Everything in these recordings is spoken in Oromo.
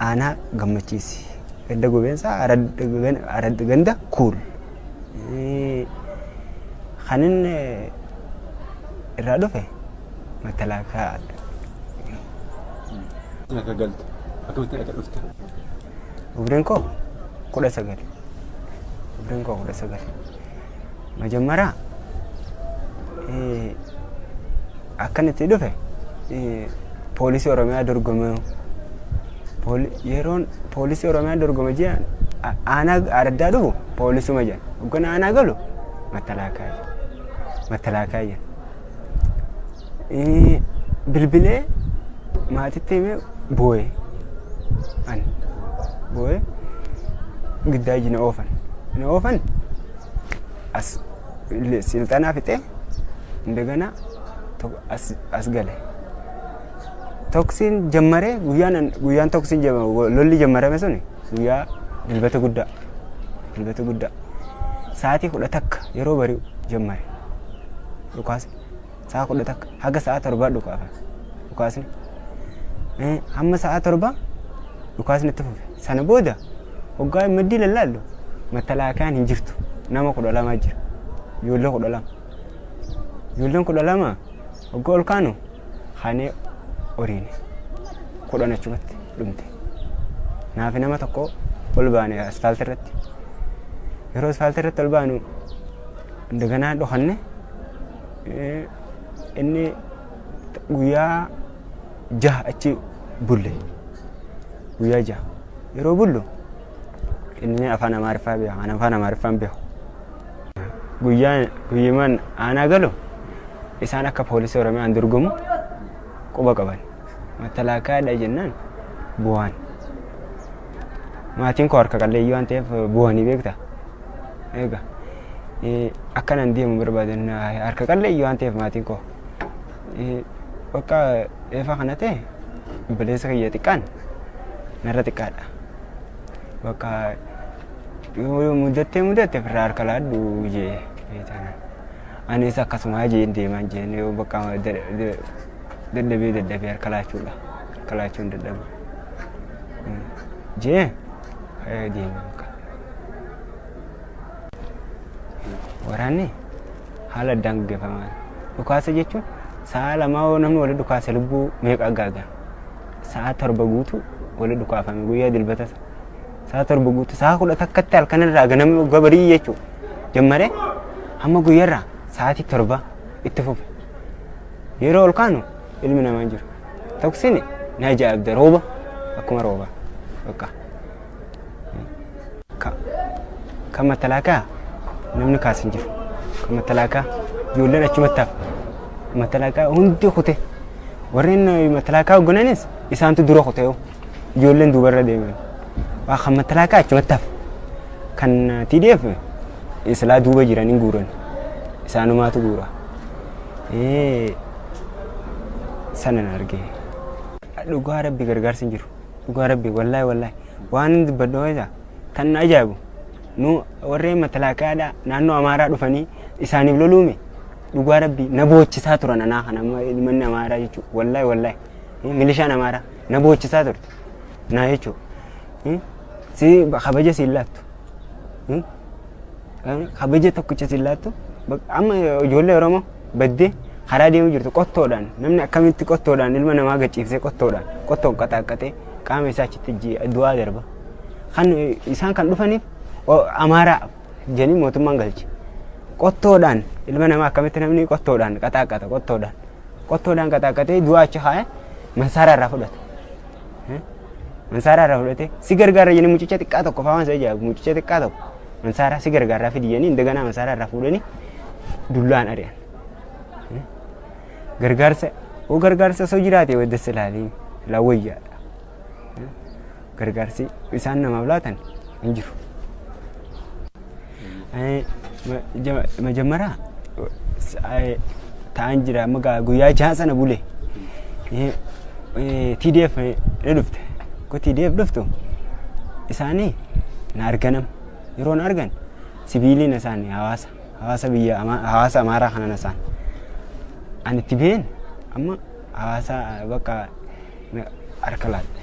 Aanaa Gammachiisi. Ganda Gobeensaa Arad Ganda Kuul. Kan inni irraa dhufe matalaakaa. Akka galte. Akkamitti akka dhufte. Umriin koo kudha sagal. Umriin koo kudha sagal. Majammara akkan itti dhufe poolisii Oromiyaa dorgomee yeroon poolisii Oromiyaa dorgome ji'a aanaa araddaa dhufu poolisuma jedhan. Hoggana aanaa galu mattalaakaa jedhan. Mattalaakaa jedhan. Eh, Bilbilee maatitti himee boo'e. Ani boo'e giddaa iji na oofan. Na oofan as silxanaa fixee indagana tokko as as gale. Toksiin jammaree guyyaan guyyaan toksiin jamma- lolli jammarame sun guyyaa dilbata guddaa dilbata guddaa sa'aatii kudha takka yeroo bari'u jammare dhukaasni sa'a kudha takka haga sa'a torbaa dhukaafa dhukaasni Eh, hamma sa'a torbaa dhukaasni itti fufe sana booda hoggaa maddii lallaallu mattalaakayaan hin jirtu nama kudha lamaa jira ijoollee kudha lama Ijoolleen kudha lama wagga ol kaanu kaanee horiine kudhan achumatti dhumte. Naafi nama tokko ol baane asfaaltii irratti. Yeroo asfaaltii irratti ol baanu daganaa dhokanne inni guyyaa jaha achi bulle. Guyyaa jaha yeroo bullu Inni afaan Amaariffaa beeka. Kan afaan Amaariffaa hin beeku. Guyyaan guyyiman aanaa galu isaan akka poolisii Oromiyaan dorgomu quba qaban. Mattalaakaadha jennaan bu'aan. Maatiin koo harka qalleeyyii waan ta'eef bu'anii beekta. Egaa akkanan deemu barbaadan harka qalleeyyii waan ta'eef maatiin koo. Bakka eefaa kana ta'e obboleessa kiyya xiqqaan narra xiqqaadha. Bakka yoo mudattee mudatte firraa harka laadhu jee beekana. Anis akkasuma jeen deemaan jeen yoo bakka dadhabee dadhabee harka laachuudha. Harka laachuun dadhabu. Jee deemaa bakka. Waraanni haala addaan gaggeeffama. Dhukaasa jechuun sa'a lamaa yoo namni wali dhukaase lubbuu meeqa gaaga? Sa'a torba guutuu wali dhukaafame guyyaa dilbata sa- sa'a torba guutuu sa'a kudha takkatti halkan irraa ganamni waggaa barii jechuu jammaree hamma guyyarraa sa'aatii torba itti fufe. Yeroo ol kaanu ilmi namaa hin jiru. Toksini na ajaa'ibda rooba akkuma rooba. Bakka. Ka, kan matalaakaa namni kaas hin jiru. Kan matalaakaa ijoolleen achumatti hafa. Matalaakaa hundi kute. Warreen eh, matalaakaa hoggananis isaantu dura kute yoo. Ijoolleen duubarra deeman. Waa kan matalaakaa achumatti hafa. Kan eh, TDF islaa duuba jiran hin guuran. Isaanumaatu guura. Eh, sana na argee. Dhugaa rabbi gargaarsi hin jiru. dhugaa rabbi wallahi wallahi waan hin dubbadhu isa kan na ajaa'ibu nu warreen matalaaqaadhaa naannoo amaaraa dhufanii isaaniif loluume dhugaa rabbi na boochisaa turan anaa kana amma ilmanni amaaraa jechuu wallahi wallahi Eh, milishaan amaaraa na boochisaa turte naa jechuu Eh, si kabaja siin laattu Eh, Kabaja tokkicha sin laattu amma ijoollee Oromoo baddee karaa deemuu jirtu qottoodhaan namni akkamitti qottoodhaan ilma namaa gachiifsee qottoodhaan qottoon qaxaaqqatee qaama isaa achitti ji'a du'aa darba. Kan isaan kan dhufaniif amaaraa jedhanii mootummaan galche. Qottoodhaan ilma namaa akkamitti namni qottoodhaan qaxaaqqata qottoodhaan qottoodhaan qaxaaqqatee du'aa achi kaa'ee masaara irraa fudhata. Mansaaraa irraa fudhatee si gargaara jedhanii mucicha xiqqaa tokko fa'aa waan isa ijaaru mucicha xiqqaa tokko mansaaraa si gargaaraa fidi jedhanii indaganaa mansaaraa irraa fuudhanii dullaan ari'an. Gargaarsa oo gargaarsa osoo jiraate wadda silaalee silaa wayyaadha. Gargaarsi isaan namaaf laatan hin jiru. Majammara ta'an jira amma gaa guyyaa jahan sana bule TDF ni dhufte ko TDF dhuftu isaanii na arganam yeroo na argan sibiiliin isaanii hawaasa hawaasa biyya Ama- hawaasa amaaraa kana nasaan ani itti been amma hawaasa bakka na- harka laadhe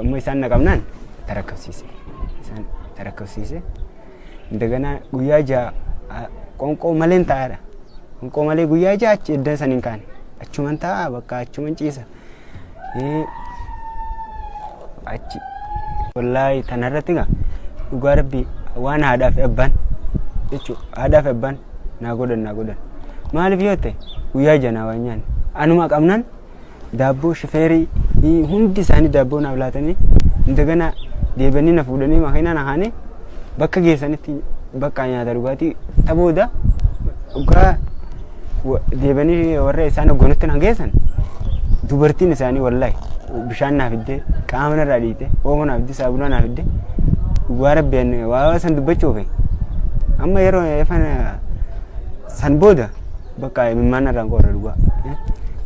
Amma isaan na qabnaan tarakkabsiise. Isaan tarakkabsiise. Daganaa guyyaa ja'a a- qoonqoo maleen taa'aadha. Qoonqoo malee guyyaa ja'a achi eddan san hin kaane. Achuman taa'a bakka achuman ciisa. Ee, Achi. Wallaahi tana irratti gaa dhugaa rabbii waan haadhaa fi abbaan jechuudha. Haadhaa fi abbaan naa godhan naa godhan. Maaliif yoo ta'e guyyaa ja'a naa waan nyaanne. Anuma qabnaan daabboo shifeerii hii- hundi isaanii daabboo naaf laatanii indagana deebanii na fuudhanii makiinaa na kaanii bakka geessanitti bakka nyaata dhugaatii ta booda dhugaa wa- deebanii warra isaan hoggoonutti na geessan dubartiin isaanii wallahi bishaan naaf fiddee qaama narraa dhiite oomo naaf fiddee saabunaa naaf fiddee dhugaa rabbeen waa san dubbachuufi amma yeroo efana san booda bakka imimmaan irraan qorra dhugaa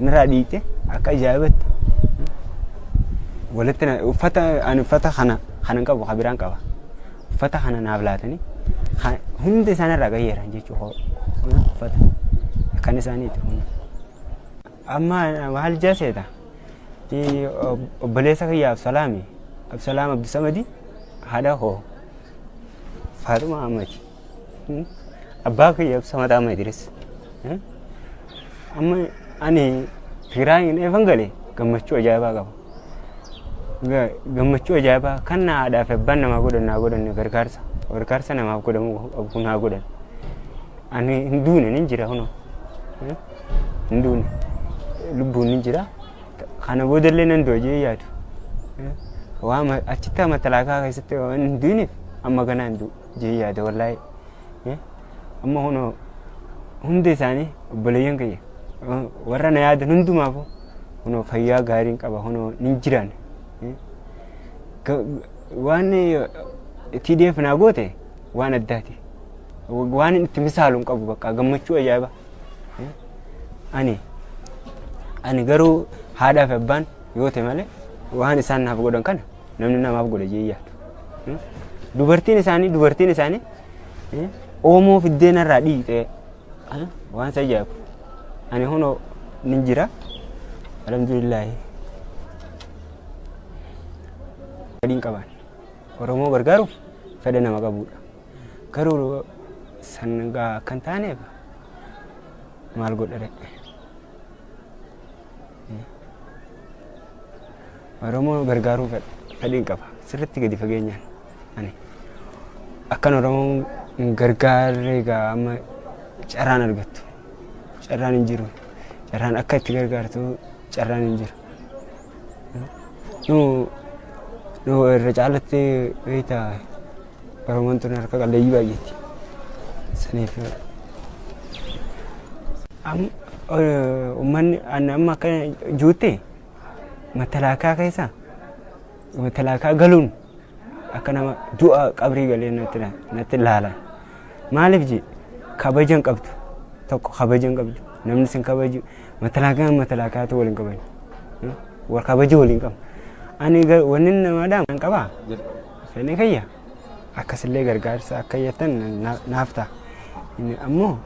nirraa dhiite akka ajaa'ibatti walitti na- uffata ani uffata kana kana hin qabu ka biraan qaba uffata kana naaf laatanii ka- hundi isaan irraa qayyeeran jechuu koo Kun uffata kan isaaniiti kun amma maal jaseeta Ii, ob- obboleessa kiyya absalaami absalaam abdusamadi haadha koo faaxuma amati Abbaa kiyya ibsa mataa amma Idris. Amma ani Tigraayiin eefan gale gammachuu ajaa'ibaa qaba. Gammachuu ajaa'ibaa kan na haadhaa fi abbaan namaa godhan naa godhan gargaarsa gargaarsa namaaf godhamu qabu naa godhan. Ani hin duune nin jira kunoo. Hin duune lubbuun nin jira. Kana boodallee nan du'a jee yaadu. Waan achitti amatalaaqaa keessatti waan hin duuneef amma ganaa hin du'u. jee yaada wallahi Eh, amma kunoo hundi isaanii obboleeyyan kiyya Eh, warra na yaadan hundumaafu kunoo fayyaa gaariin qaba kunoo nin jiraan Eh, ga- waan eh, TDF naa goote waan addaati Wa- waan inni itti misaalu hin qabu bakka gammachuu ajaa'iba Eh, ani ani garuu haadhaa fi abbaan yoo ta'e malee waan isaan naaf godhan kana Namni namaaf godhe jee yaadu. Hmm? Dubartiin isaanii dubartiin isaanii eh, oomoo fiddeen irraa dhiitee eh, waan isa ajaa'ibu. Ani hunoo nin jira. Alhamdulillaahi. Fedhii hin qaban. Oromoo gargaaruuf fedha nama qabudha. Garuu san gaa akka hin taaneef maal godhare? Oromoo gargaaruu fedhiin qaba. Sirriitti gadi fageenyaan ani akkan Oromoo hin gargaarre egaa amma carraan argattu. Carraan hin jiru. Carraan akka itti gargaartu carraan hin jiru. Nu nu irra caalatti beekta Oromoon tun harka qalleeyyii baay'eetti. Saniif am- o- uummanni ani amma akka juutti matalaakaa keessa matalaakaa galuun akka nama du'a qabrii galee natti la- natti laalan. Maaliif jee kabaja hin qabdu tokko kabaja hin qabdu namni sin kabaju matalaakaa matalaakaatu waliin qaban wal kabaja waliin qabu. Ani gar- wanni namaadhaan kan qabaa sanii kayya. akkasillee gargaarsa akka jettan na- naaf ta'a. Inni ammoo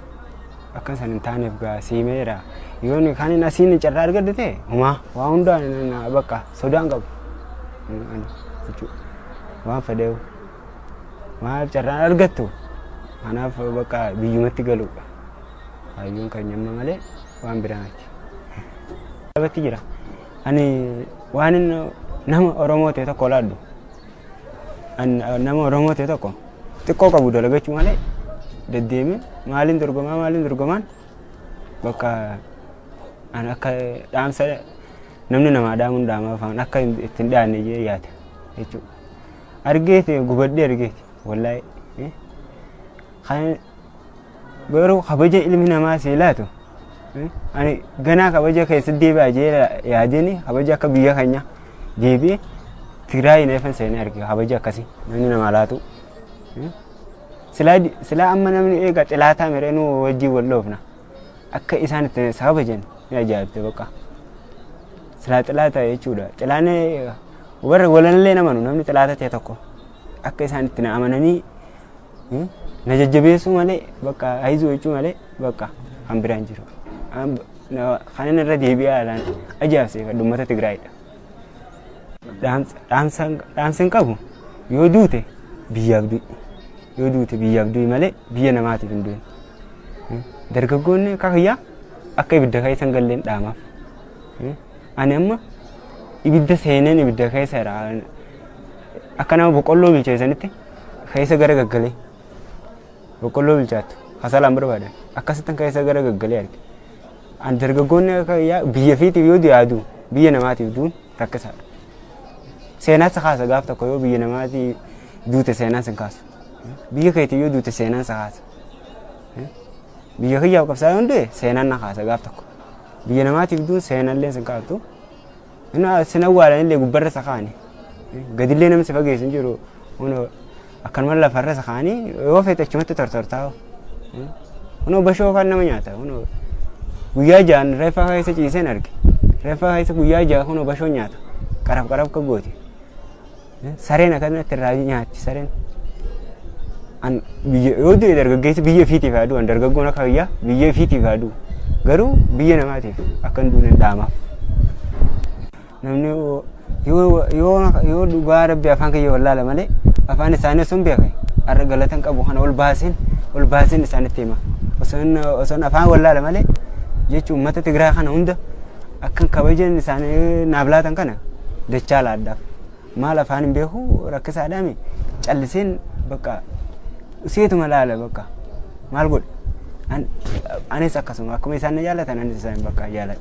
akka san hin taaneef gaa siimeera. Yoon kan hin asiin carraa argadhu ta'e homaa waa hundaa na- na- bakka sodaan qabu. Inni ani jechuudha. Waan fedheewu. Maaf carraan argattu? Kanaaf bakka biyyumatti galuudha. Hayyuun kan nyamma malee waan biraa miti. Dhabatti jira. Ani waan inni nama Oromoo ta'e tokko olaadhu. An nama Oromoo ta'e tokko xiqqoo qabu dalagachuu malee deddeemee maaliin dorgomaa maaliin dorgomaan bakka an akka dhaamsa namni namaa dhaamuun dhaamaa afaan akka hin- itti hin dhaanne jee yaada jechuudha. Argeeti gubadhee argeeti wallahi. eh. Kan Garuu kabaja ilmi namaa si laatu ani ganaa kabaja keessatti deebi'aa jee yaadini kabaja akka biyya keenya deebi'e Tigraay neefan seenee arge kabaja akkasii namni namaa laatu. Silaa amma namni eega xilaataa miree nu wajjin wal loofna akka isaan itti kabajan ni ajaa'ibte bakka. Silaa xilaata jechuudha. Xilaanni warra walallee namanu namni xilaata ta'e tokko akka isaan itti na amananii Hmm? Na jajjabeessuu malee bakka hayizuu jechuu malee bakka kan biraan jiru. An- na- Kanan irra deebi'aa alaan ajaa'ibsiifadhu uummata Tigraayidha. Dhaamsa- dhaamsa- Dhaamsa hin qabu yoo duute biyyaaf du'i. Yoo duute biyyaaf du'i malee biyya namaatiif hin du'in. Hmm? Dargaggoonni akka kiyyaa akka ibidda keessa hin galleen dhaamaaf. Hmm? Ani amma ibidda seeneen ibidda keessa jira. Akka nama boqqolloo bilcheessanitti keessa gara gaggalee boqqolloo bilchaattu kasaalaan barbaadan akkasittan keessa gara gaggalee arge. An dargaggoonni akka yaa- biyya fiitiif yoo yaadu biyya namaatiif duun rakkisaadha. Seenaan si kaasa gaaf tokko yoo biyya namaatiif duute seenaan sin kaasu. Biyya keetiif yoo duute seenaan si kaasa. Biyya kiyyaaf qabsaa'ee hundee seenaan na kaasa gaaf tokko. Biyya namaatiif duun seenaan illee sin kaaftu. Ina sin awwaalanillee gubbarra isa kaani. Gadillee namni si fageessu hin jiru. Kunoo akkanuma lafarra isa kaani yoo feete achumatti tortortaa. Kunoo bashoo kan nama nyaata. Kunoo guyyaa ja'an reeffaa keessa ciiseen arge. Reeffaa keessa guyyaa ja'a kunoo bashoo nyaata. Qaraf qaraf akka gooti. Sareen akkanatti irraa nyaatti sareen. An biyya yoo du'e dargaggeessi biyya ofiitiif haa du'an dargaggoon akka biyyaa biyya ofiitiif haa du'u. Garuu biyya namaatiif akka hin duune dhaamaaf. Namni yoo- yoo yoo- yoo dhugaa rabbi afaan kiyya wallaala malee afaan isaanii osoo hin beekne har'a galatan qabu kana ol baaseen ol baaseen isaanitti hima. Osoo hin- osoo hin afaan wallaala malee jechuun uummata Tigiraa kana hunda Akkan kabajeen isaanii naaf laatan kana dachaa laadhaaf. Maal afaan hin beeku rakkisaadhaami calliseen bakka seetuma laala bakka maal godhe. An- Anis akkasuma akkuma isaan na jaalatan anis isaan bakka jaaladha.